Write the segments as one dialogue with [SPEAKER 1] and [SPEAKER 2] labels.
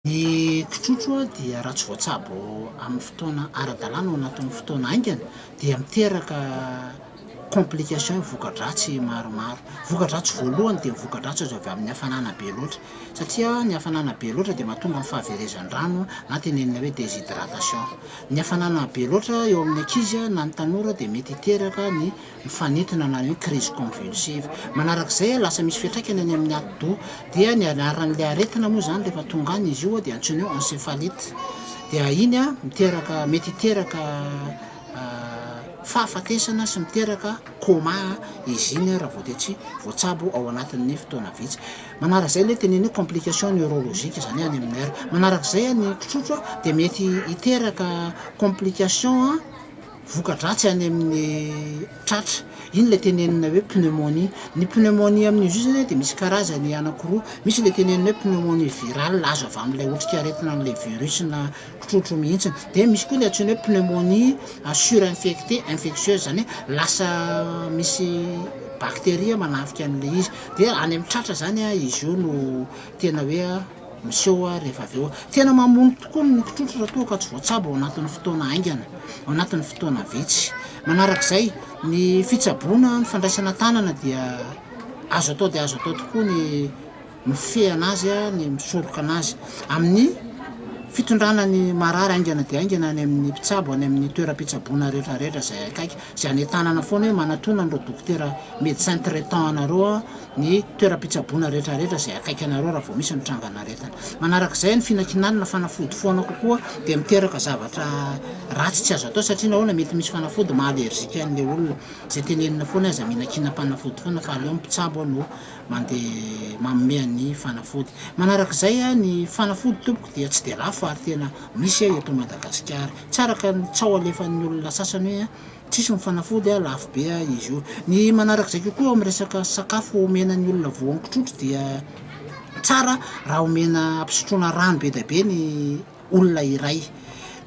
[SPEAKER 1] Ny kitrotro dia raha tsy voatsabo amin'ny fotoana ara-dalàna ao anatin'ny fotoana haingana dia miteraka complications, voka-dratsy maromaro. Voka-dratsy voalohany dia ny voka-dratsy azo avy amin'ny hafanana be loatra satria ny hafanana be loatra dia mahatonga ny fahaverezan-drano na tenenina hoe déshydratation. Ny hafanana be loatra eo amin'ny ankizy na ny tanora dia mety hiteraka ny mifanintona na ny crise convulsive. Manaraka izay, lasa misy fiantraikany any amin'ny atidoha. Dia ny anaran'ilay aretina moa izany rehefa tonga any izy io dia antsoina hoe encéphalite. Dia iny miteraka, mety hiteraka fahafatesana sy miteraka coma izy iny raha vao dia tsy voatsabo ao anatin'ny fotoana vitsy. Manaraka izay ilay teneniny hoe complication neurologique, izany hoe any amin'ny nerf. Manaraka izay ny kitrotro dia mety hiteraka complication. voka-dratsy any amin'ny tratra. Iny ilay tenenina hoe pneumonie. Ny pneumonie amin'io zio zany dia misy karazany anankiroa. Misy ilay tenenina hoe pneumonie virale, azo avy amin'ilay otrikaretina an'ilay virus na trotrony mihitsy. Dia misy koa ilay antsoina hoe pneumonie à surinfectée, infectieuse, izany hoe lasa misy bacteria manafika an'ilay izy. Dia any amin'ny tratra izany izy io no tena hoe. Miseho hoa rehefa avy eo. Tena mamono tokoa ny mokitr'otry raha toa ka tsy voatsabo ao anatin'ny fotoana haingana, ao anatin'ny fotoana vitsy. Manarak'izay, ny fitsaboana, ny fandraisana tanana dia azo atao dia azo atao tokoa ny mifehana azy, ny misoroka anazy. Amin'ny fitondrana ny marary haingana dia haingana any amin'ny mpitsabo, any amin'ny toeram-pitsaboana rehetra rehetra izay akaiky, izay hanentanana foana hoe manatona an'ireo dokotera, médecin traitant, anareo aho, ny toeram-pitsaboana rehetrarehetra izay akaiky anareo raha vao misy ny trangan'aretina. Manaraka izay, ny finankinanana fanafody foana kokoa dia miteraka zavatra ratsy tsy azo atao satria nahoana? Mety misy fanafody maha allergique an'ilay olona. Izay tenenina foana hoe aza minankinam-panafody foana fa aleo ny mpitsabo no mandeha manome an'ny fanafody. Manaraka izay, ny fanafody tompoko dia tsy dia lafo ary tena misy eto Madagasikara. Tsy araka ny tsaho alefan'ny olona sasany hoe Tsisy mifanafody a, lafo be a izy io. Ny manarak'izay kokoa eo amin'ny resaka sakafo omena ny olona voangy trotro dia tsara raha omena ampisotroana rano be dia be ny olona iray.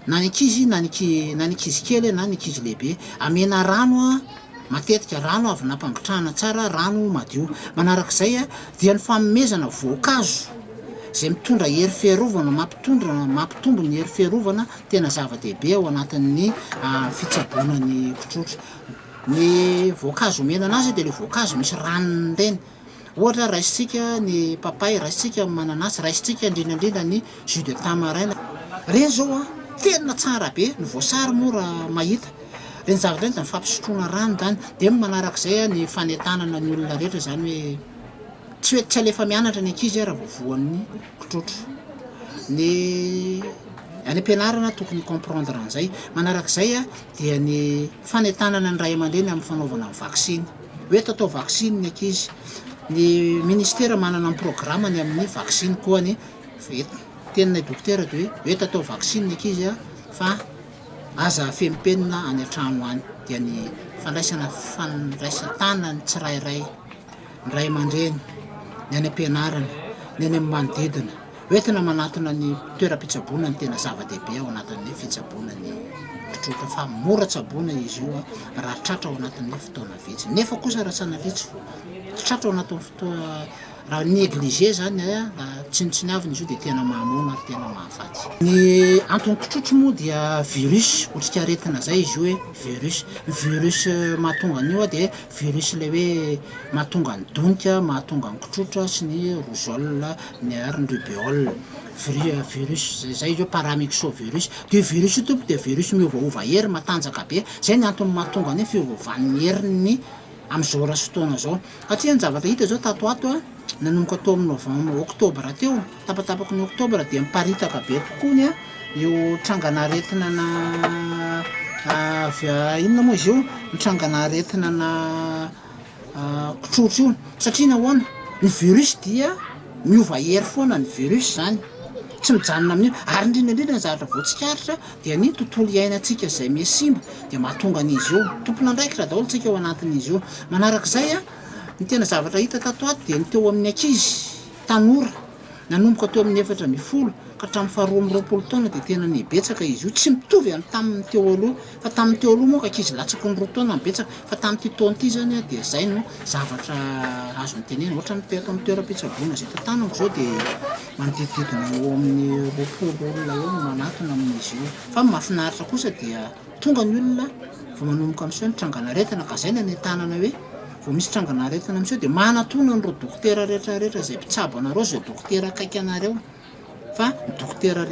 [SPEAKER 1] Na ny ankizy na ny na ny ankizy kely na ny ankizy lehibe. Amena rano matetika, rano avy nampangotrahana tsara, rano madio. Manarak'izay a, dia ny fanomezana voankazo izay mitondra hery fiarovana, mampitondra, mampitombo ny hery fiarovana. tena zava-dehibe ao anatin'ny fitsaboana ny kitrotro. Ny voankazo omena anazy dia ilay voankazo misy ranony ireny. Ohatra, raisintsika ny papay, raisintsika ny mananasy, raisintsika indrindra indrindra ny jus de tamarin. Ireny izao tena tsara be, ny voasary moa raha mahita. Ireny zavatra ireny dia fampisotroana rano izany. Dia ny manaraka izay ny fanentanana ny olona rehetra izany hoe tsy hoe tsy alefa mianatra ny ankizy raha vao voan'ny. tsotra ny any am-pianarana tokony hi-comprendre an'izay. Manaraka izay dia ny fanentanana ny ray aman-dreny amin'ny fanaovana ny vaksiny. Hoe eto atao vaksiny ny ankizy. Ny ministera manana ny programany amin'ny vaksiny koa ny eto. Ny teninay dokotera dia hoe eto atao vaksiny ny ankizy fa aza afeno penina any an-trano any. Dia ny fandraisana fandraisan-tana ny tsirairay. ny ray aman-dreny, ny any am-pianarana, ny any amin'ny manodidina. Ho entina manatona ny toeram-pitsaboana no tena zava-dehibe ao anatin'ny fitsaboana ny mpitroka fa mora tsaboina izy io raha tratra ao anatin'ny fotoana vitsy. Nefa kosa raha sanavitsy tratra ao anatin'ny fotoa raha négligé zany raha tsinontsiniavina izy io dia tena mahamono ary tena mahafaty. Ny antony kitrotro moa dia virus, otrikaretina zay izy io hoe virus. Ny virus mahatonga an'io dia Virus ilay hoe mahatonga ny donika, mahatonga ny kitrotra sy ny rougeole, ny ary ny rubeole. Viri- virus zay zay izy io, paramyxovirus. Dia io virus io tompoko dia virus miovaova hery, matanjaka be. Zay ny antony mahatonga ny hoe fiovaovan'ny heriny am'zao ra sy fotoana zao. Hatria ny zavatra hita zao tato ho ato a, nanomboka teo amin'ny novem- oktobra teo, Tapatapaky ny Oktobra dia miparitaka be tokoa ny io trangan'aretina na avy inona moa izy io ny trangan'aretina na kitrotro io satria nahoana ny virus dia miova hery foana ny virus zany tsy mijanona amin'io ary indrindra indrindra ny zavatra voatsikaritra dia ny tontolo iainantsika izay misy simba dia mahatonga an'izy io tompon'andraikitra daholo tsika ao anatin'izy io manarak'izay a ny tena zavatra hita tato ato dia ny teo amin'ny ankizy tanora, nanomboka teo amin'ny efatra ambin'ny folo ka hatramin'ny faharoa amby roapolo taona dia tena nibetsaka izy io, tsy mitovy amin'ny tamin'ny teo aloha fa tamin'ny teo aloha manko ankizy latsaky ny roa taona no betsaka fa tamin'ity taona ity izany dia izay no zavatra azo antenaina, ohatran'ny teto amin'ny toeram-pitsaboana izay tantanako izao dia manodidididina eo amin'ny roapolo olona eo no manatona amin'izy io fa ny mahafinaritra kosa dia Tonga ny olona vao manomboka miseho ny trangan'aretina ka izay no anentanana hoe vao misy trangan'aretina miseho dia manatona an'ireo dokotera rehetra rehetra izay mpitsabo anareo izay dokotera akaiky anareo fa ny dokotera rehetra